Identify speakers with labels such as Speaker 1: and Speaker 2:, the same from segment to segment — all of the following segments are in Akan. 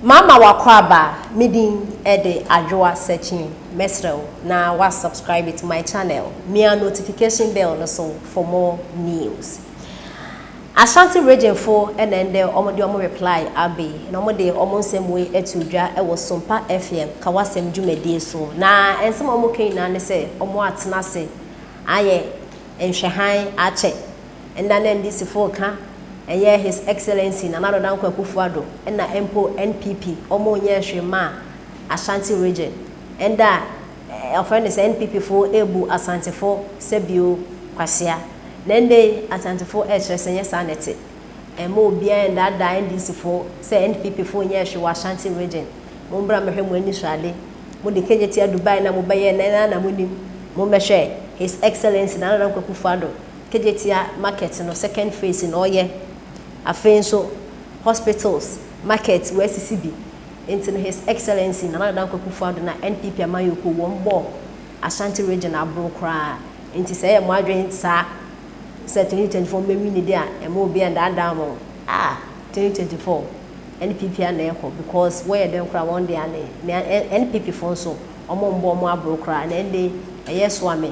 Speaker 1: Mama w'akwaaba me din de Adwoa Sekyene mɛsrɛ wo na wa subscribe to my channel mia notification bell no so for more news Ashanti region fo na ɛndɛ ɔmo de ɔmo reply abe na ɔmo de ɔmo nsɛm wei ato dwa wɔ Sumpa FM ka w'asɛm dwumadie so na nsɛm a ɔmo ka nyinaa ne sɛ ɔmo atena ase ayɛ nhwɛhan akyɛ Nna na NDCfo reka, nnyɛ His Excellency Nana Addo Dankwa Akufo Addo, nna mpo NPP, wɔn nnyɛɛ hwee mmaa Ashanti Region. Nda a wɔfrɛ no sɛ NPP fo rebu Asantefo sɛ bio kwasia. Na ndɛ yi Asantefo rekyerɛ sɛ nnyɛ saa na ɛte. Mma obiara nndaadaa NDCfo sɛ NPP fo nnyɛɛ hwee wɔ Ashanti Region. Mombra mmɛhwɛ mo ani so ade. Mo de kegye tia Dubai na mobɛyɛɛ na ɛnaa na monim. Mommɛhwɛ His Excellency Nana Addo Dankwa Akufo Addo Kejetia market no second phase na ɔyɛ afei nso hospitals, market wasisi bi nti no his excellency Nana Addo Dankwa Akufo Addo na NPP amanyɔkuo wɔn bɔɔ Ashanti region aboro koraa nti sɛ ɛyɛ mo adwen saa sɛ 2024 mo bɛ winni de a ɛmma obiara ndaadaa mo ah 2024 NPP a na ɛkɔ because wɔyɛ dɛn koraa wɔn de ane na NPP foɔ nso wɔn mbɔɔ mo aboro koraa na ɛndɛ ɛyɛ soa me.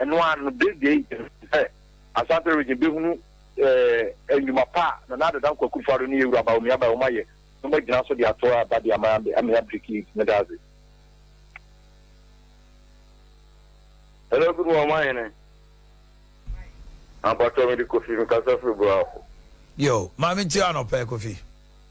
Speaker 2: Ɛno ara no, Daisy ayi ne ho adi sɛ Asante Region bɛhunu nnwuma pa a Nana Addo Dankwa Akufo Addo ne Yawuraba Bawumia Bawum ayɛ na wɔagyina so de ato aba de ama Amee Abriki yi nti, meda ase. Hello good morning my hene ampakyɛw mede kofi mekasa firi boafo. Yo,
Speaker 3: maame nti anɔpa kofi.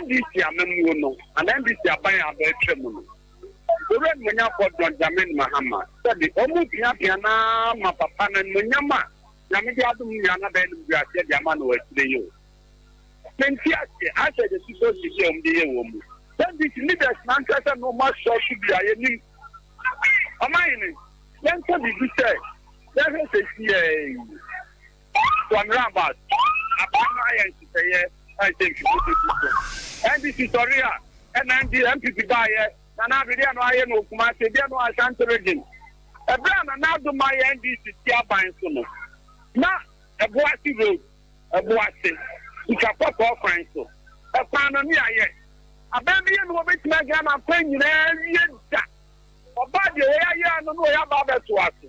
Speaker 4: NDC amammuo no anaa NDC aban a aba atwa mu no, Owura Animuonyamfoɔ John Dramani Mahama sɛbe wɔn piapia no ara ma papa no animuonyam a Nyame de adom no nyinaa no abɛyɛ animguaseɛ de ama no wɔ akyire yi o. Mente aseɛ, asɛ de susu asi deɛ wɔn de yɛ wɔn mu. NDC leaders no ankyerɛ sɛ na wɔn asɔ so bi a yɛnim. Ɔmanhene, yɛnka biribi sɛ yɛhwɛ sɛ ɛsi yɛn yi. Wɔn Rabat aban no ayɛ nhyehyɛeɛ ɛnhyɛ mfidie du du so. NDC sɔre a ɛna ND NPP baeɛ. Nana Addo deɛ no ayɛ no wɔ Kumasi, deɛ no wɔ Ashanti Region. Ɛberɛ a Nana Addo ma yɛ NDC ti aban so no, na Ɛboase Road, Ɛboase, Sika Kɔkɔɔ kwan so. Ɛkwan no ne ayɛ. Aban bi yɛ no wɔbɛtumi agyina n'akwan nyinaa awie da. Ɔbaa deɛ wɔyɛ ayɛ ano no wɔyɛ aba abɛtoa so.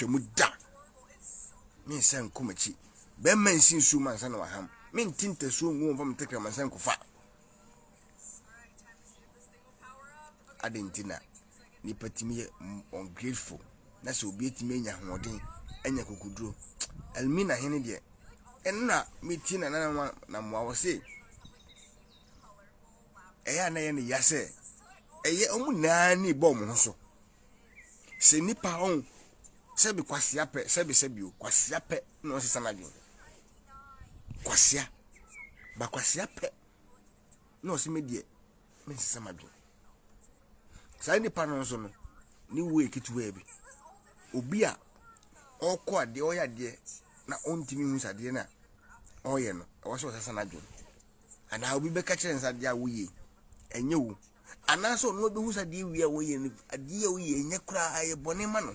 Speaker 3: Twam
Speaker 5: da. Me nsa nkɔ m'akyi. Bɛrima nsi nsuo mu ansa na waham. Me nte ntasuo ngu wɔn fam ntakra ma nsa nkofa. Adɛn nti na nipa tumi yɛ ungrateful na sɛ obi atumi anya ahoɔden anya kokoduro Elmina hene deɛ ɛna metie na nana wa na mmoa wɔ se ɛyɛ a na ɛyɛ ne ya sɛ ɛyɛ ɔmo nyinaa ne bɔ ɔmo ho so Sɛ nipa ɔn sɛbi kwasia pɛ sɛbi sɛbi o kwasia pɛ na ɔsesa n'adwene kwasia ba kwasia pɛ na ɔsi mi deɛ mi nsesa m'adwene saa nipa no nso no ne wuo yɛ ketewa bi obi a ɔkɔ adeɛ ɔyɛ adeɛ na ɔntumi hu sɛ adeɛ no a ɔyɛ no ɛwɔ sɛ ɔsesa n'adwene anaa obi bɛka kyerɛ nsa adeɛ a woyɛ ɛnyɛ wo. Anaasɛ ɔno abehu sɛ adeɛ wie a wɔyɛ no adeɛ a woyɛ nyɛ koraa ayɛ bɔne ma no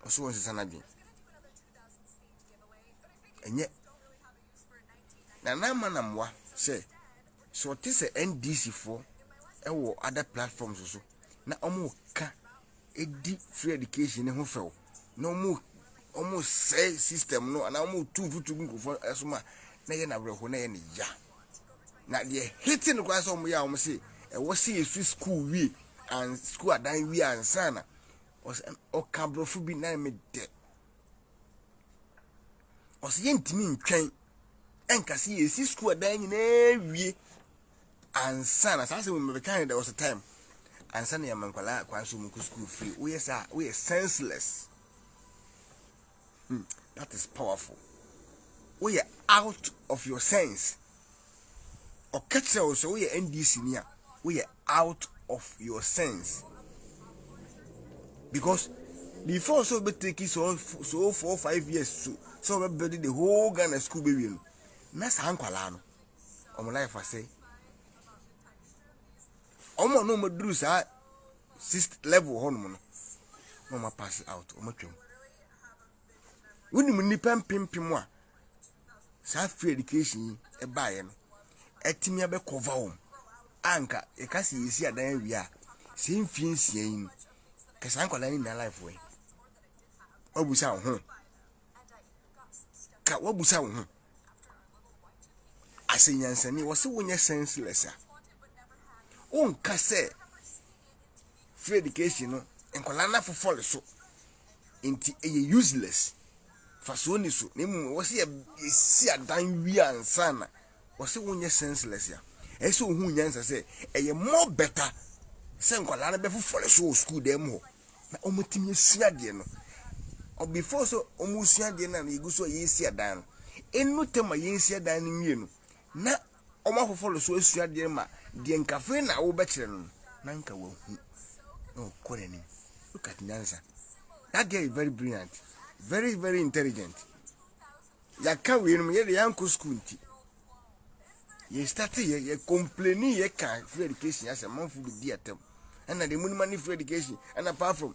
Speaker 5: ɔso wɔ nsesa n'adwene ɛnyɛ nana ama na mmoa sɛ sɛ ɔte sɛ ndc foɔ ɛwɔ other platforms so na ɔmo ka ɛdi free education no ho fɛw na ɔmo ɔmo sɛe system no anaa ɔmo tu mfutu gu nkurɔfoɔ ɛso ma na ɛyɛ na awerɛho na ɛyɛ ne ya na deɛ hete no koraa sɛ ɔmo yɛ a ɔmo se ɛwɔ se yɛsu school wie and school adan wie ansa na ɔka aborɔfo bi na me dɛ ɔsɛ yɛntumi ntwɛn ɛnka se yɛsi school adan nyinaa wie Ansa na saa asɛm mu mebɛka ne there was a time ansa na yɛma nkwadaa kwan so wɔn kɔ sukuu free woyɛ saa woyɛ senseless hmm that is powerful woyɛ out of your sense ɔka kyerɛ wo sɛ woyɛ ndc ni a woyɛ out of your sense because before so be take so so four five years so so be build the whole Ghana school be win na saa nkwadaa no wɔn life ase wɔn a na wɔn aduru saa sixth level hɔ nom no na wɔn pass out wɔn atwam wonim nnipa mpempem a saa free education yi ɛbaeɛ no atumi abɛkɔva wɔn anka yɛka sɛ yɛsi adan awie a sɛ mfie nsia yi no kɛsaa nkwadaa no nyinaa life wɔ yi wabusa ho ka wabusa wo ho asɛ nyansani wɔse wonyɛ senseless a wonka sɛ free education no nkwadaa no afofɔle so nti ɛyɛ useless fasoɔ ni so na mmom wɔ sɛ yɛsi adan wie ansa na Wɔse wonyɛ senseless a, ɛsɛ sɛ ohuu nyansa sɛ ɛyɛ more better sɛ nkwadaa no bɛfofɔre so wɔ sukuu dan mu hɔ na wɔatumi asua adeɛ no. Ɔ before sɛ wɔresua adeɛ no a na yɛgu so a yɛresi adan no, ɛnnu tam a yɛnsi adan no nwie no, na wɔafofɔre so asua adeɛ no ma deɛ nka afei na wobɛkyerɛ no no, na nka wahu na ɔkɔ n'anim. Look at nyansa. That girl is very brilliant, very very intelligent. Yɛaka wei nom yɛdeɛ yɛankɔ school nti yɛ starte yɛ yɛ complaini yɛ ka free education asɛ manfo bɛdi atam ɛna deɛ monima ne free education ɛna apart from